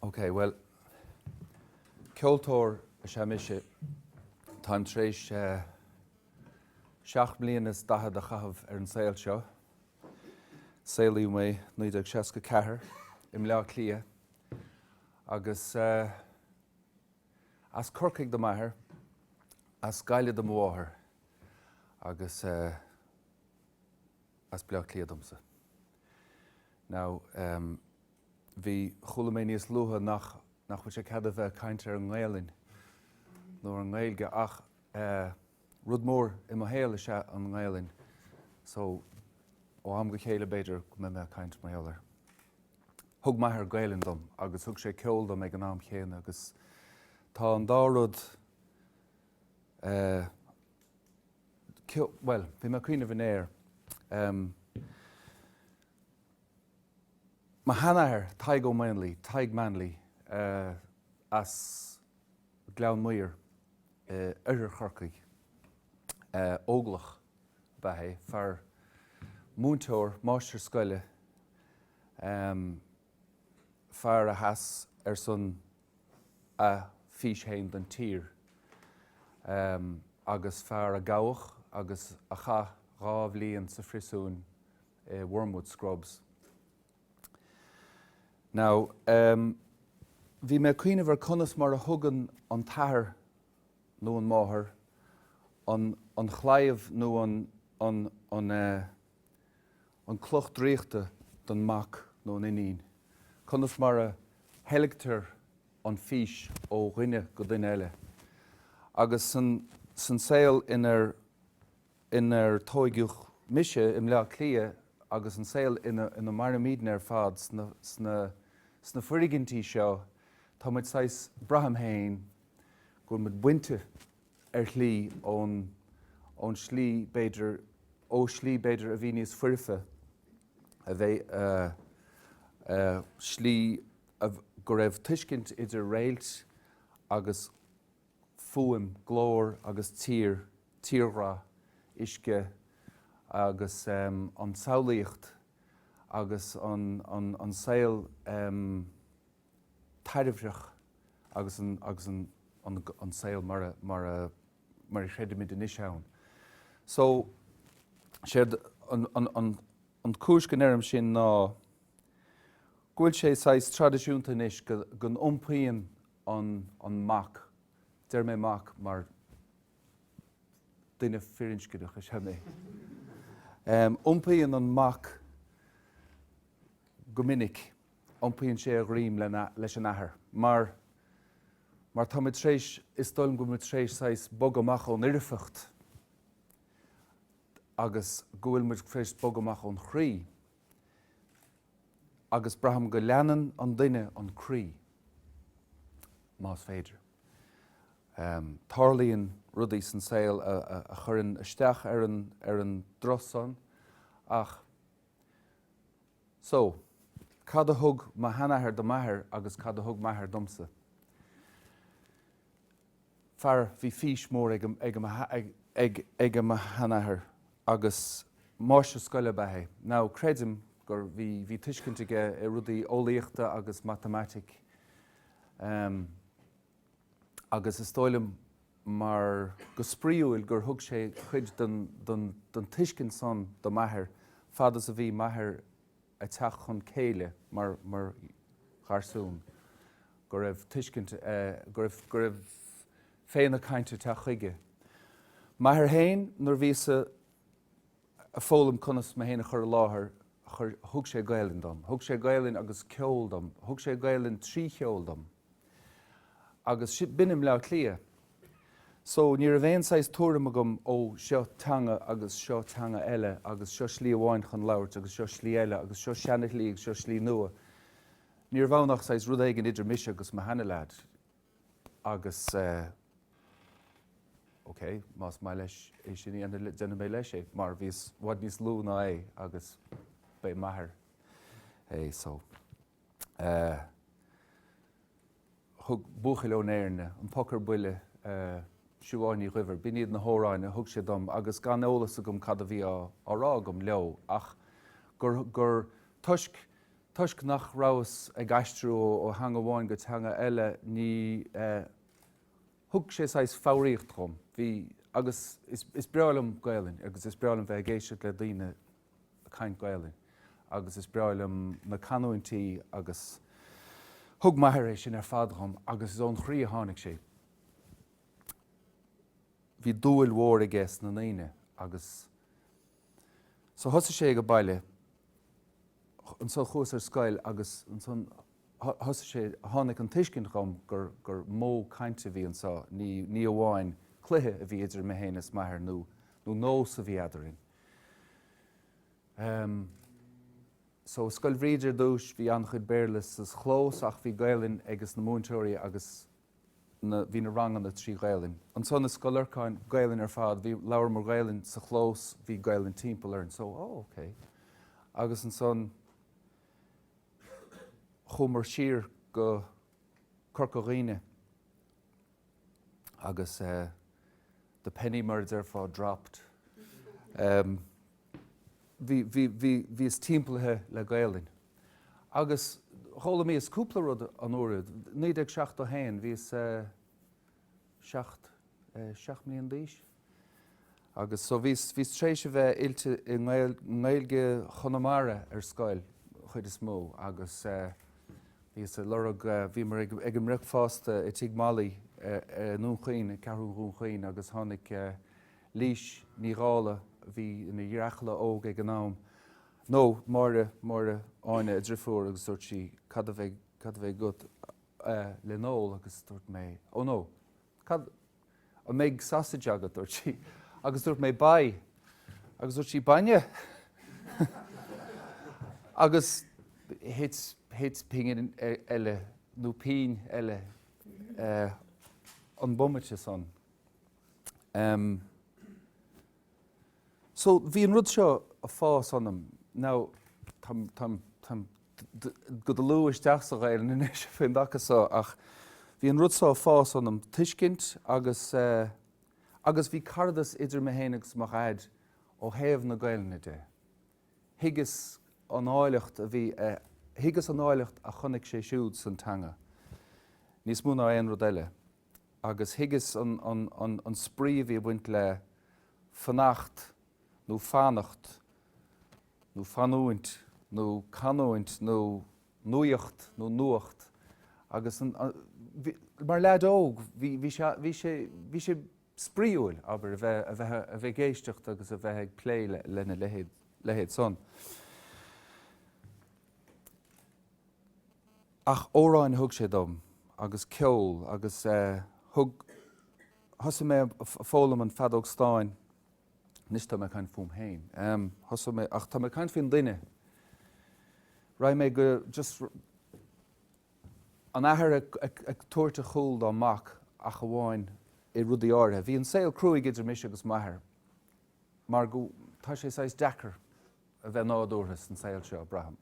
Ok, bhuel, ceoltóir is ea mise. Táim tar éis eh, seacht mbliana is daichead a chaitheamh ar an saol seo. Saolaíodh mé 1964 i mBleá Cliath agus eh, As Corcaigh do m'athair, as Gaillimh do mo mháthair agus eh. as Baile Átha Cliath domsa. Now, em. bhí, chuala mé níos luaithe nach, nach bhfuil aon chead a bheith ag caint ar an nGaelainn nó ar an nGaeilge ach eh. rud mór i mo shaol is ea an nGaelainn so ó am go chéile b'fhéidir go mbeidh mé ag caint mar gheall air. Thug m'athair Gaelainn dom agus thug sé ceol dom ag an am chéanna agus tá an dá rud eh, ceol, bhuel, bhí mé ag cuimhneamh inné ar, em, mo sheanathair Tadhg Ó Maonlaí, Tadhg Manley, eh, as, Gleann Maghair, oirthear Chorcaigh. Óglach ab ea é, fear, múinteoir, máistir scoile, fear a sheas ar son a fís féin don tír agus fear a gabhadh agus a chaith dhá bhliain sa phríosún i Wormwood Scrubs. Now, em, bhí mé ag cuimhneamh ar conas mar a thugann an t-athair nó an máthair an, an chlaíomh nó an, an, an eh, an cloch draíochta don mac nó an iníon, conas mar a theilgtear an fís ó dhuine go duine eile. Agus san, san saol inar. inar tógadh mise i mBleá Cliath agus an saol ina mairimídne ar fad sna foirgintí seo, tá muid saghas, braithim féin, go bhfuil muid bainte ar shlí ón slí, b'fhéidir, ó shlí, b'fhéidir, a bhí níos foirfe, a bheith, slí go raibh tuiscint idir réilt agus. fuaim, glór agus tír, tírghrá, uisce agus an tsamhlaíocht agus an saol taibhreach agus an saol mar a chreidimid anois ann. So, séard, an chúis go ndeirim sin ná go bhfuil sé saghas traidisiúnta anois go n-iompaíonn an an mac, deirim mac mar duine firinscneach is ea mé, em iompaíonn an mac go minic, iompaíonn sé a dhroim lena leis an athair mar mar táimid tar éis is dóigh liom go bhfuil muid tar éis saghas bogadh amach ón fhoirfeacht agus go bhfuil muid tar éis bogadh amach ón chroí. agus braithim go leanann an duine an croí, más féidir. Tarlaíonn rudaí san saol a chuireann isteach ar an, ar an dtroith san ach. So, cad a thug mo sheanathair do m'athair agus cad a thug m'athair domsa? fear, bhí fís mhór ag mo sheanathair agus máistir scoile ab ea é. Now creidim gur, bhí, bhí tuiscint aige i rudaí eolaíochta agus matamaitic em agus is dóigh liom mar, go spraíúil gur thug sé cuid den, den, den tuiscint san do m'athair fad is a bhí m'athair a' teacht chun céille mar, mar gharsún. go raibh tuiscint, go raibh, go raibh féith na cainte ag teacht chuige. M'athair féin, nuair a bhíos a, a foghlaim conas mé féin a chur i láthair, chuir, thug sé Gaelainn dom, thug sé Gaelainn agus ceol dom, thug sé Gaelainn trí cheol dom. Agus si, b'in i mBleá Cliath. So, ní raibh aon saghas tuairim agam, ó, seo teanga agus seo teanga eile agus seo slí amháin chun labhairt agus seo slí eile agus seo seana-shlí agus seo slí nua. Ní raibh ann ach saghas rud éigin idir mise agus mo sheana leaid agus ok, más maith leis é sin a dhéanamh, déanfaidh mé leis é, mar bhíos i bhfad níos lú ná é agus ba é m'athair é so eh. thug Buachaill ón Éirne, An Poc ar Buile, Siobhán Ní Dhuibhir, b'in iad na hamhráin a thug sé dom agus gan eolas agam cad a bhí á rá agam leo ach gur, gur, toisc, toisc nach rabhas ag aistriú ó theanga amháin go teanga eile ní, thug sé saghas foghraíocht dhom, bhí, agus is, is breá liom Gaelainn agus is breá liom bheith ag éisteacht le daoine caint Gaelainn agus is breá liom na canúintí agus thug m'athair é sin ar fad dhom agus is ón chroí a tháinig sé. Bhí dúil mhór aige sna ndaoine agus so thosaigh sé ag baile, ansan chuas ar scoil agus ansan thosaigh sé, tháinig an tuiscint dhom gur, gur modh cainte a bhí anso, ní, ní amháin cluiche a bhí idir mé féin is m'athair nó, nó nós a bhí eadarainn. So i Scoil Bhríde ar dtúis bhí an-chuid Béarla sa chlós ach bhí Gaelainn ag na múinteoirí agus bhí na ranganna trí Ghaelainn. Ansan i Scoil Lorcáin, Gaelainn ar fad. Bhí, labhramar Gaelainn sa chlós, bhí Gaelainn timpeall orainn. So, oh, ok. Agus ansan chuamar siar go Corca Dhuibhne agus the penny mar a déarfá dropped. Bhíos timpeallaithe le Gaelainn. Agus d'fhoghlaimíos-sa cúpla rud an uair úd. naoi déag seachtó a haon, bhíos seacht, seacht mbliain d'aois? Agus so bhí bhíos tréis a bheith oilte i nGaeilge Chonamara ar scoil chuid is mó agus bhíos ag lorg bhíomar ag ag an mbricfeasta i Tigh Mholly i nDún Chaoin, i Ceathrú Dhún Chaoin agus tháinig Lís Ní Dhála a bhí ina gearrchaile óg ag an am nó Máire Máire Áine a driofúr agus dúirt sí, Cad a bheidh cad a bheidh agat le n-ól agus dúirt mé, Ó no, Cad, an mbeidh sausage agat? dúirt sí. Agus dúirt mé, Bye. Agus dúirt sí, Bainne? Agus thit, thit pingin eile, nó pínn eile, an bomaite san. So, bhí an rud seo a' fás ionam. Now, táim, táim, táim go dlúth isteach sa Ghaelainn anois faoin dtaca so ach bhí an rud so a' fás ionam, tuiscint agus eh, agus bhí caradas idir mé fhéin agus mo Dhaid ó thaobh na Gaelainne de. Thuigeas an áilleacht a bhí eh, thuigeas an áilleacht a chonaic sé siúd san teanga, níos mó ná aon rud eile. agus thuigeas an spraoi a bhí ag baint le fanacht nó fanacht nó fanúint nó canúint nó nuaíocht nó nuacht agus mar leaid óg bhí sé spraoiúil, abair, a bheith ag éisteacht agus a bheith ag plé lena leithéid san. Ach amhráin a thug sé dom, agus ceol, agus eh, thug, thosaigh mé a' foghlaim an feadóg stáin, anois tá mé ag caint fúm féin, em, thosaigh mé, ach tá mé ag caint faoin duine, raibh mé go, just, an t-athair ag, ag, ag tabhairt a chúl dá mhac ach amháin i rudaí áirithe. Bhí an saol cruaidh idir mise agus m'athair mar go, tá sé saghas deacair a bheith nádúrtha san saol seo, braithim.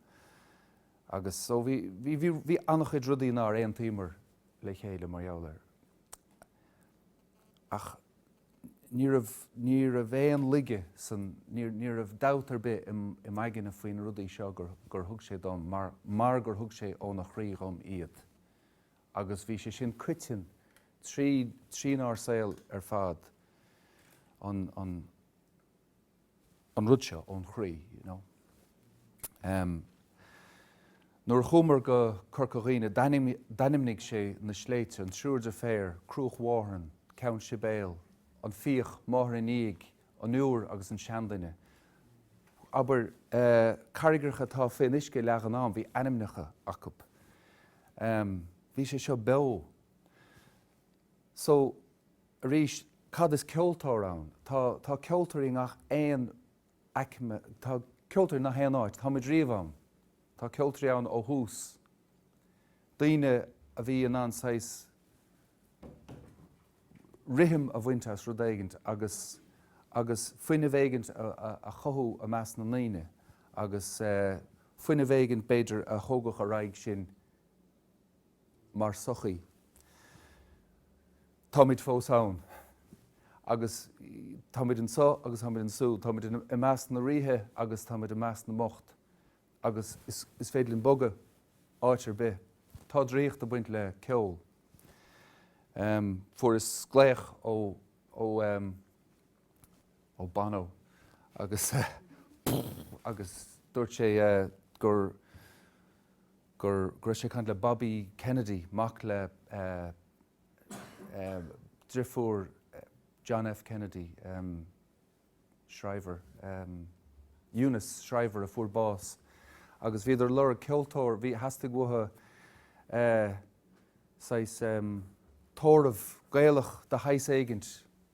Agus so, bhí, bhí, bhí, bhí an-chuid rudaí nár aontaíomar le chéile mar gheall air. Ach ní raibh, ní raibh aon laige san, ní, ní raibh dabht ar bith im, i m'aigne faoi na rudaí seo gur, gur thug sé dom mar, mar gur thug sé óna chroí dhom iad. Agus bhí sé sin coiteann tríd, trínár saol ar fad, an, an, an rud seo ón chroí, you know. Em. Nuair a chuamar go Corca Dhuibhne, d'ainmnigh sé na sléibhte, an Triúr Deirféar, Cruach Mhárthain, Ceann Sibéal, An Fiach, Máthair an Fhiaigh, An Liúir agus an Seanduine. Abair, eh, carraigreacha atá faoin uisce a leagan ann, bhí ainmneacha acu. Em. Bhí sé seo beo. So, Arís, cad is ceoltóir ann? Tá, tá ceoltóirí i ngach aon aicme, tá ceoltóirí i ngach aon áit. Tá muid riamh ann. Tá ceoltóirí ann ó thús, daoine a bhí in ann saghas rithim a bhaint as rud éigint agus, agus fuinneamh éigint a, a, a chothú i measc na ndaoine agus eh, fuinneamh éigint b'fhéidir a thógadh ar aghaidh sinn. mar sochaí. Táimid fós ann. Agus táimid anseo agus táimid ansúd. Táimid i measc na ríthe agus táimid i measc na mbocht. Agus is féidir linn bogadh áit ar bith. Tá draíocht ag baint le ceol. Fuaireas glaoch ó. ó Bono agus agus dúirt sé gur gur go raibh sé ag caint le Bobby Kennedy, mac le driofúr John F Kennedy, Shriver, Eunice Shriver a fuair bás agus bhíodar ag lorg ceoltóir, bhí, theastaigh uathu saghas tórramh Gaelach de shaghas éigint.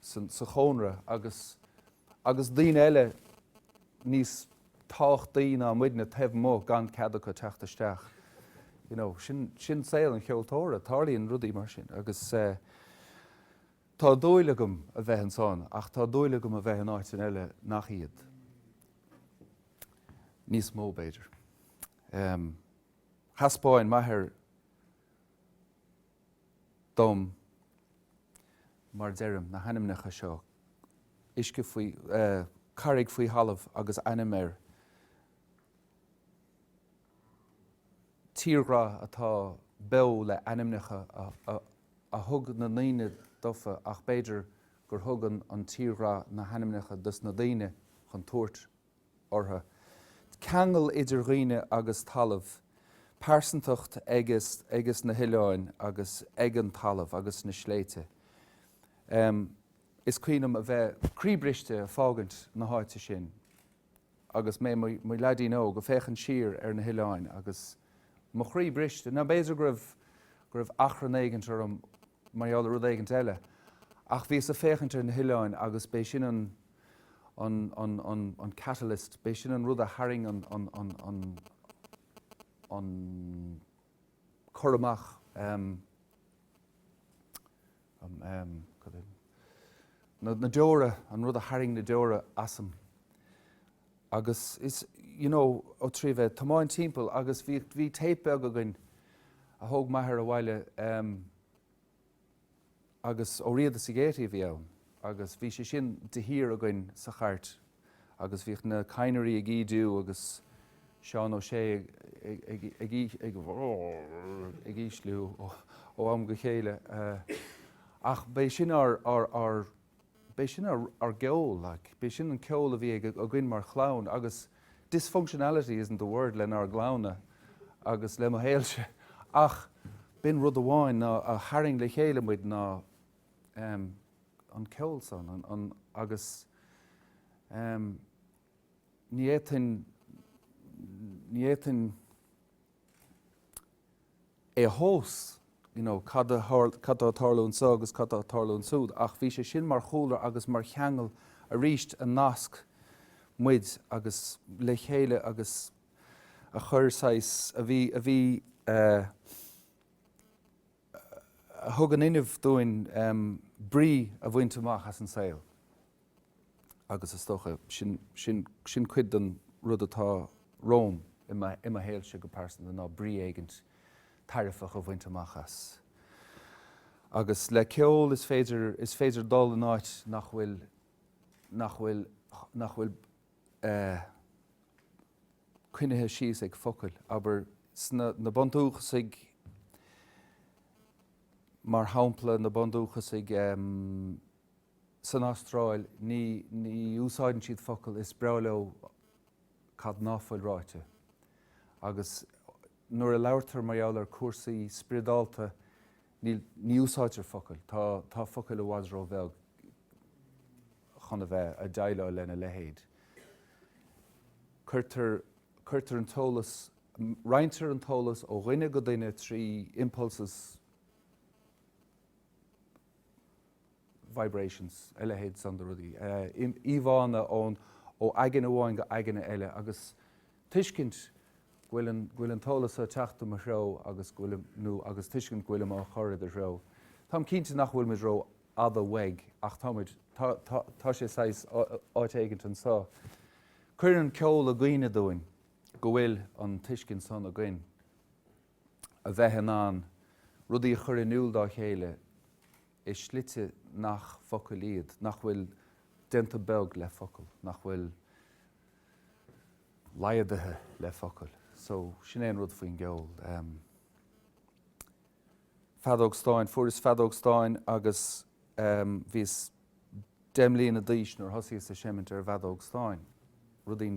sa chónra agus agus daoine eile níos tábhachtaí ná muidne taobh amuigh gan cead acu teacht isteach. You know, sin sin saol an cheoltóra, tarlaíonn rudaí mar sin agus eh tá dúil agam a bheith ansan ach tá dúil agam a bheith in áiteanna eile nach iad. níos mó b'fhéidir. Em, thaispeáin m'athair dom, mar deirim, na hainmneacha seo, uisce faoi, carraig faoi thalamh agus ainm air, tírdhreach atá beo le ainmneacha a thug na ndaoine dófa ach b'fhéidir gur thug an tírdhreach na hainmneacha dos na daoine chun tabhairt orthu, ceangal idir dhaoine agus talamh, pearsantacht aige agus na hoileáin agus ag an talamh agus na sléibhte. Is cuimhin liom a bheith croíbhriste ag fágaint na háite sin agus mé i mo leaidín óg ag féachaint siar ar na hoileáin agus mo chroí briste, ná b'fhéidir go raibh achrann éigint orm mar gheall ar rud éigint eile. Ach bhíos ag féachaint ar na hoileáin agus b'é sin an, an, an, an, an catalyst, b'é sin an rud a tharraing an, an, an, an, an cur amach, em, em, em, cad é, na, na deora, an rud a tharraing na deora asam. Agus is, you know, ó trí bheith ag tiomáint timpeall agus bhí, bhí téip beag againn a thóg m'athair abhaile ehm agus Ó Riada sa Ghaiety a bhí ann agus bhí sé sin de shíor againn sa chairt agus bhíodh na cadhnraí ag ídiú agus Seán Ó Sé ag, ag, ag, ag, ag, ag ísliú ó am go chéile eh ach b'é sin ár, ár, ár. B'é sin ár gceol, like. B'é sin an ceol a bhí againn mar chlann agus dysfunctionality isn't the word lenár gclann-na agus le mo shaolse ach b'in rud amháin a tharraing le chéile muid ná ehm an ceol san an an agus ehm ní fhéadfainn ní fhéadfainn é a thomhas, you know, cad a tharla, cad tá ag tarlú anseo agus cad tá ag tarlú ansúd, ach bhí sé sin mar chúlra agus mar cheangal arís a nasc muid agus le chéile agus a chuir saghas, a bhí, a bhí eh, a thug an fuinneamh dúinn em brí a bhaint amach as an saol. Agus is dócha, sin, sin, sin cuid den rud atá romham i mo, i mo shaolse go pearsanta ná brí éigint tairbheach a bhaint amach as. Agus le ceol is féidir, is féidir dul in áit nach bhfuil, nach bhfuil, nach bhfuil eh, coinnithe síos ag focail, abair sna, na bundúchasaigh, mar shampla, na bundúchasaigh ehm. san Astráil ní úsáideann siad focail, is breá leo cad ná fuil ráite. Agus nuair a labhartar mar gheall ar cúrsaí spioradálta ní úsáidtear focail, tá focail i bhfad róbheag chun a bheith a' deighleáil lena leithéid. Cuirtear, cuirtear an t-eolas, roinntear an t-eolas ó dhuine go duine trí impulses, vibrations, a leithéid san de rudaí, íomhánna ón, ó aigne amháin go aigne eile agus tuiscint go bhfuil an, go bhfuil an t-eolas so ag teacht i mo threo agus go bhfuil, nó agus tuiscint go bhfuilim á chur i do threo. Táim cinnte nach bhfuil muid ró-fhada uaidh ach tá muid, tá, tá, tá sé saghas, áit éigint ansan. Cuireann ceol i gcuimhne dúinn go bhfuil an tuiscint san againn. a bheith in ann rudaí a chur in iúl dá chéile i slite nach focail iad, nach bhfuil déanta beag le focail, nach bhfuil laghdaithe le focail. So, sin é an rud faoin gceol. Feadóg stáin, fuaireas feadóg stáin agus bhíos deich mbliana d'aois nuair a thosaíos ag seimint ar feadóg stáin, rudaí.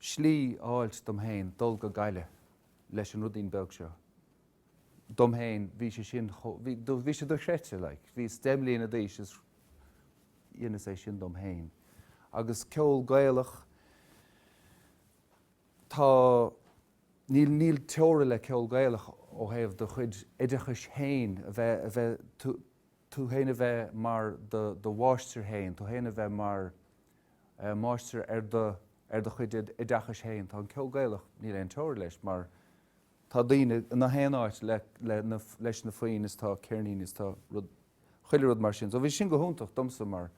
slí a fháilt dom féin dul go Gaillimh leis an rudín beag seo dom féin, bhí sé sin chomh, bhí, bhí sé dochreidte, like, bhíos deich mbliana d'aois is dheineas é sin dom féin. Agus ceol Gaelach, tá, níl, níl teora le ceol Gaelach ó thaobh do chuid oideachais féin, a bheith, a bheith, tú, tú féin a bheith mar do, do mháistir féin, tú féin a bheith mar. máistir ar do, ar do chuid oideachais féin. Tá an ceol Gaelach, níl aon teora leis mar tá daoine i ngach aon áit le, le na, leis na foinn is tá ceirníní is tá rud, chuile rud mar sin. So bhí sin go hiontach domsa mar,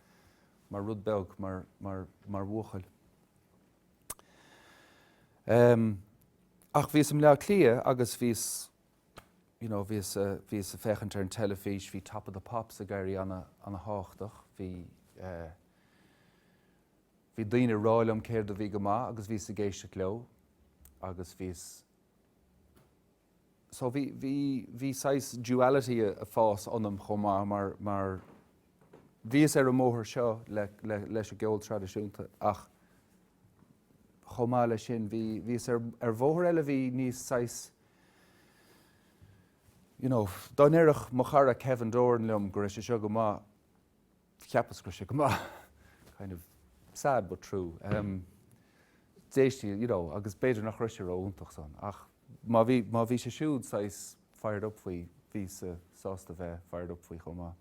mar rud beag, mar, mar, mar bhuachaill. Ach bhíos i mBleá Cliath agus bhíos. you know bhíos a bhíos ag féachaint ar an teilifís bhí Top of the Pops ag éirí ana ana thábhachtach bhí eh bhí daoine ag rá liom céard a bhí go maith agus bhíos ag éisteacht leo agus bhíos so bhí bhí bhí saghas duality a, ag fás ionam chomh maith mar mar bhíos ar an mbóthar seo le, le leis an gceol traidisiúnta ach chomh maith leis sin bhí bhíos ar ar bhóthar eile bhí níos saghas You know, dá ndeireadh mo chara Kevin Doran liom go raibh sé seo go maith, cheapas go raibh sé go maith. Kind of sad but true. D'éistí, you know, agus b'fhéidir nach raibh sé ró-iontach san, ach má bhí, má bhí sé siúd saghas fired up faoi, bhíosa sásta bheith fired up faoi chomh maith.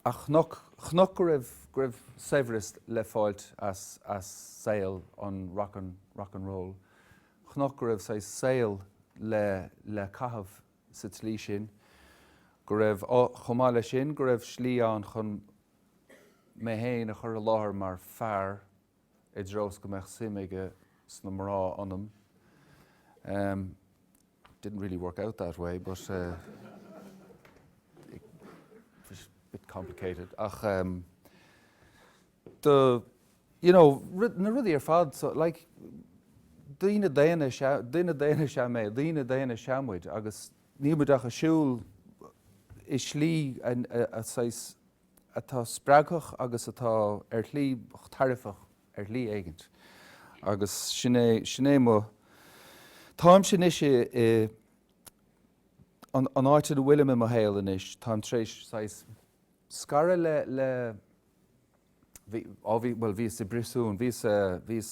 a chonac, chonac go raibh, go raibh saibhreas le fáilt as, as saol an rock and, rock and roll, chonac go raibh saghas saol le, le caitheamh sa tslí sin, go raibh, chomh maith leis sin, go raibh slí ann chun mé féin a chur i láthair mar fear, i dtreo is go mbeadh suim aige sna mná ionam. Ehm, it didn't really work out that way, but it was a bit complicated. Ach ehm, do, you know, na rudaí ar fad, so, like, daoine daonna is ea, duine daonna is ea mé, daoine daonna is ea muid, agus níl muid ach ag siúl i slí a, a, a, saghas, atá spreagthach agus atá ar shlí tairbheach ar shlí éigin. Agus sin é, sin é mo. Táimse anois i, i, an, an áit ina bhfuilim i mo shaol anois, táim tar éis saghas scaradh le, le, bhí, á bhí, bhuel bhíos i bpríosún, bhíos, bhíos,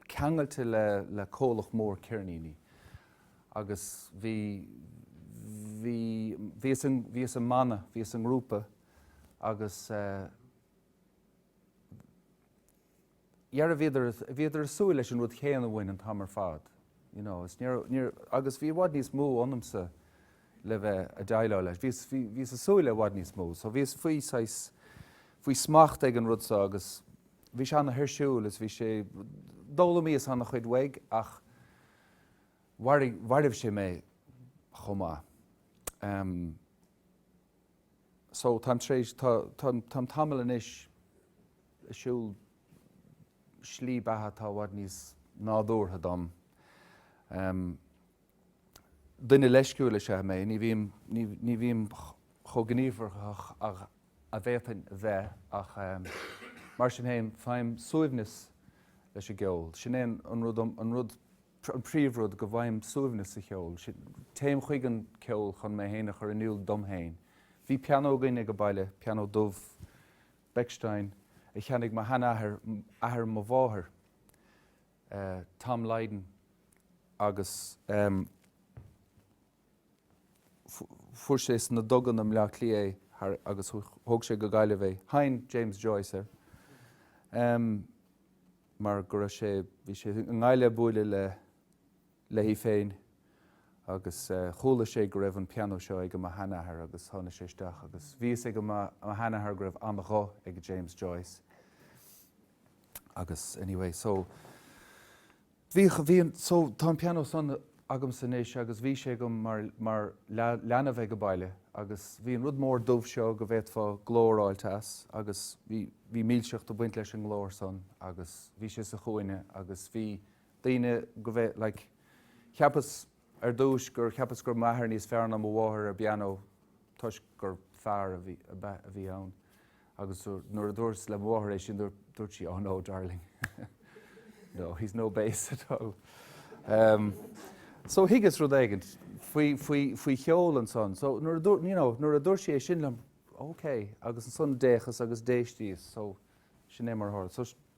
ceangailte le comhlacht mhór ceirníní agus bhí, bhí, bhíos i, bhíos i mbanna, bhíos i ngrúpa agus dhera bhíodar, bhíodar ag súil leis an rud chéanna uainn an t-am ar fad, you know, is níor, níor, agus bhí i bhfad níos mó ionamsa, le bheith a' deighleáil leis. Bhíos, bhí, bhíos a' súil le 'bhfad níos mó. So bhíos faoi saghas, faoi smacht ag an rud so agus bhí sé an-thuirsiúil is bhí sé, d'fhoghlaimíos an-chuid uaidh ach mharaigh, mhairbh sé mé chomh maith. Em, so táim tar éis, tá, tá, táim tamall anois a' siúl slí beatha atá i bhfad níos nádúrtha dom. Em. Duine leisciúil is ea mé. Ní bhím chomh gníomharthach is a d'fhéadfainn a bheith ach mar sin féin, faighim suaimhneas leis an gceol. Sin é an rud, an príomhrud, go bhfaighim suaimhneas sa cheol. Téim chuig an gceol chun mé féin a chur in iúl dom féin. Bhí pianó againn ag an baile, pianó dubh, Bechstein, a cheannaigh mo sheanathair, athair mo mháthar. Tom Lydon agus fuair sé sna dugaí i mBleá Cliath é agus thóg sé go Gaillimh é. Sheinn James Joyce air mar go raibh sé, bhí sé i nGaillimh ag bualadh le, léi féin agus chuala sé go raibh an pianó seo ag a mo shean-athair agus tháinig sé isteach agus bhí fhios ag a mo shean-athair go raibh an-ghuth ag James Joyce. Agus anyway, so, bhíodh, bhí an, so, tá an pianó san agamsa anois agus bhí sé agam mar, mar leanbh ag a baile agus bhí an rud mór dubh seo go bhféadfá glór a fháilt as agus bhí, bhí milseacht ag baint leis an nglór san agus bhí sé sa chúinne agus bhí daoine go bhfé, like, cheapas, Ar dtúis, gur cheapas go raibh m'athair níos fearr ná mo mháthair ar an bpianó toisc gur fear a bhí, ab ea? a bhí ann. Agus nuair a dúras le mo mháthair é sin, dúirt sí, oh no, darling. no, he's no bass at all. Em, so thuigeas rud éigin faoi, faoi, faoi cheol ansan. So nuair a dúirt, you know, nuair a dúirt sí é sin liom, ok. Agus ansan d'fhéachas agus d'éistíos. So sin é mar a tharla. So.